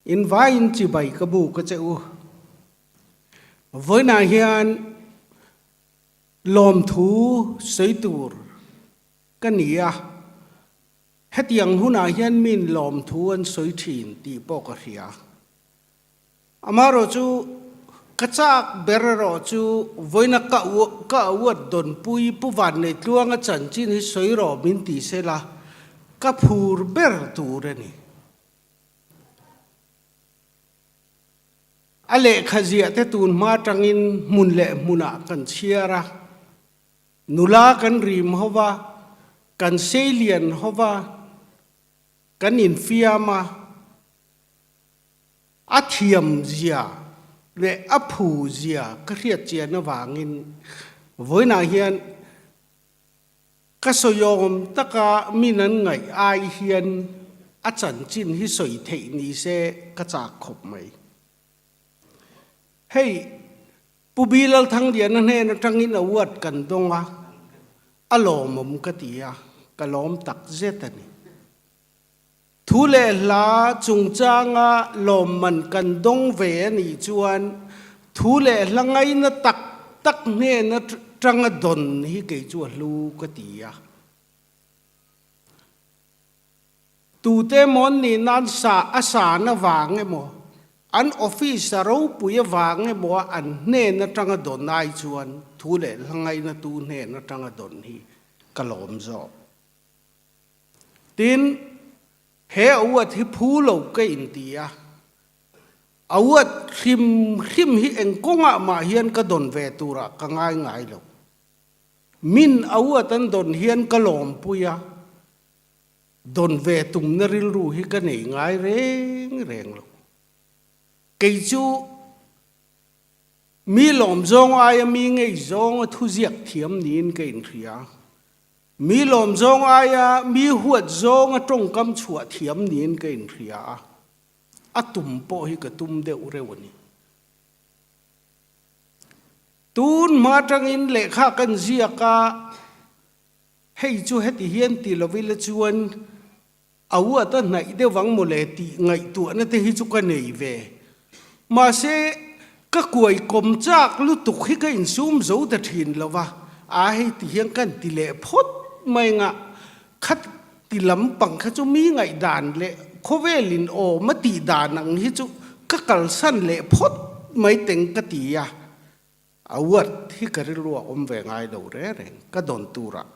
In vai in chibai ka bu ka che u. Vawiinah hian lawmthu sawi tur ka ni a, hetiang hunah hian min lawmthu an sawi thin tih pawh ka hria. Amaherawh chu ka chak ber erawh chu vawiina ka ka uat dawnpui Pu Vanneitlunga chanchin hi sawi rawh min ti sela ka phur ber tur a ni. A lehkha ziahte tun hma tangin hmun leh hmunah kan chhiar a, nula kan rim ho va, kan sei lian ho va, kan infiam a, a thiam zia leh a phu zia ka hriatchian avangin vawiinah hian Ka sawiawm taka min an ngaih ai hian a chanchin hi sawi theih nise ka chak khawp mai. Hei, Pu Bi Lalthangdiana hnen atangin a uat kan dawng a, a lawmawm ka ti a, ka lawm takzet a ni. Thu leh hla chungchanga lawmman kan dawng ve a nih chuan thu leh hla ngaina tak tak hnena tanga dawn hi kei chu a hlu ka ti a. Tute mawn nih nan sa a san avang emaw, an office a ropui avang emaw an hnen atanga dawn ai chuan thu leh hla ngaina tu hnen atanga dawn hi ka lawm zawk. Tin, he auat hi phu lo ka inti a, auat hrim hrim hi engkawngah mah hian ka dawn ve turah ka ngaingai lo. Min auat an dawn hian ka lawmpui a, dawn ve tumna rilru hi ka nei ngai reng reng lo. Kei chu mi lawmzawng aia mi ngei zawnga thuziak thiam niin ka inhria. Mi lawm zawng aia mi huat zawnga tawngkam chhuah thiam niin ka inhria a, a tum pawh hi ka tum deuh reuh a ni. Tun hma atangin lehkha kan ziak a, hei chu heti hian ti lovila chuan, A uat a hnaih deuh ang maw le tih ngaihtuahna te hi chu ka nei ve. Mahse, ka kuai kawm chak lutuk hi ka insum zo ta thin lo va, aa hei ti hian kan ti leh phawt mai anga khat ti lampang kha chu mi ngaih dan leh khawvel in awm a tih dan ang hi chu ka kalsan leh phawt mai teng ka ti a. A uat hi ka rilruah awm ve ngai lo reng reng, ka dawn turah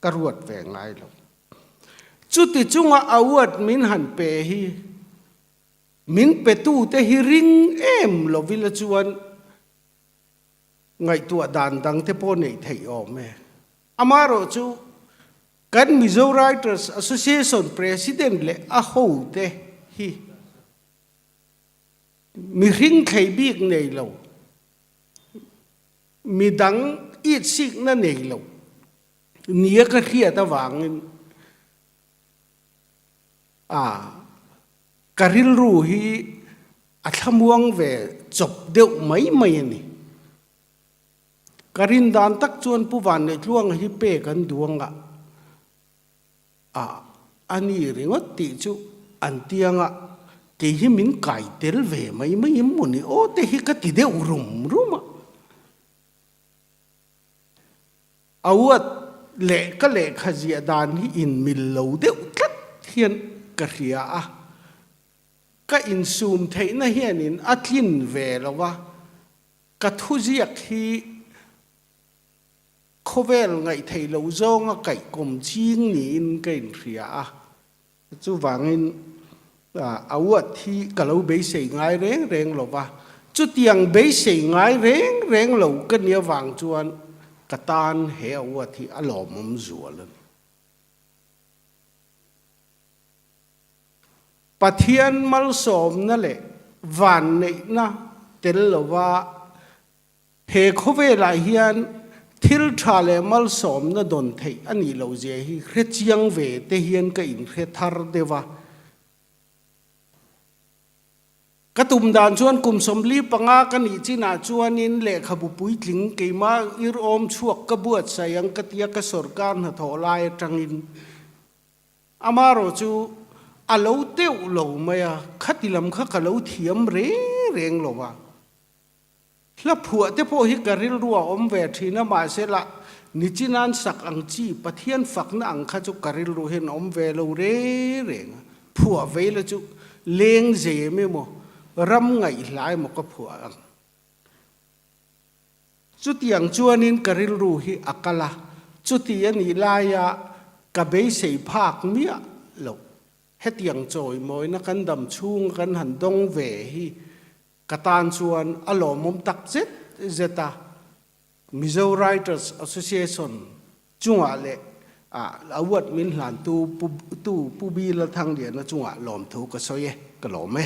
Ka ruat ve ngai lo. Chuti chunga award min han pe hi min petute hi ring em lovila chuan ngaihtuah dan dangte pawh nei theih awm e. Amaherawh chu kan Mizo Writers Association President leh a hote hi mi hringthlei bik nei lo. Midang it sik na nei lo nia ka hriat avangin ah ka rilru hi a thlamuang ve chawp deuh mai mai a ni. Ka rin dan tak chuan Pu Vanneihtluanga hi pek an duang a. a a ni ringawt tih chu an ti anga kei hi min kai tel ve mai mai em maw ni aw te hi ka ti deuh rum rum a. Auat leh ka lehkha ziah dan hi inmil lo deuh tlat hian ka hria a, ka insum theihna hianin a tlin ve lo a, ka thuziak hi. Khawvel ngaih theih loh zawnga kaihkawm ching niin ka inhria a, chuvangin a uat hi ka lo beisei ngai reng reng lo va, chutiang beisei ngai reng reng lo ka nia vang chuan ka tan he a uat hi a lawmawm zual a ni. Pathian malsawmna leh vanneihna tel lova He khawvelah hian thil tha leh malsawmna dawn theih a nih loh zia hi hre chiang ve te hian ka inhre thar deuh a. Ka tum dan chuan kum sawmli panga ka nih chinah chuanin lehkhabu puitling keima ir awm chhuak ka buatsaih ang ka tia ka sorkar hnathawh lai atangin amarawh chu a lo teuh lo mai a, khati lam kha ka lo thiam reng reng lo va. Hla phuah te pawh hi ka rilrua awm ve thin a mahse lah nichin an sak ang chi Pathian fakna ang kha chu ka rilru hian awm ve lo re reng a, phuah vei la chu leng zem emaw ram ngaih hla emaw ka phuah ang. Chutiang chuanin ka rilru hi a kal a, chuti a nih laia ka beisei phak miah loh. Hetiang chawimawina kan dam chhunga kan han dawng ve hi Ka tan chuan a lawmawm tak zet zet a, Mizo Writers Association chungah leh a uat min hlantu Pu Bi Lalthangliana chungah lawmthu ka sawi e, ka lawm e.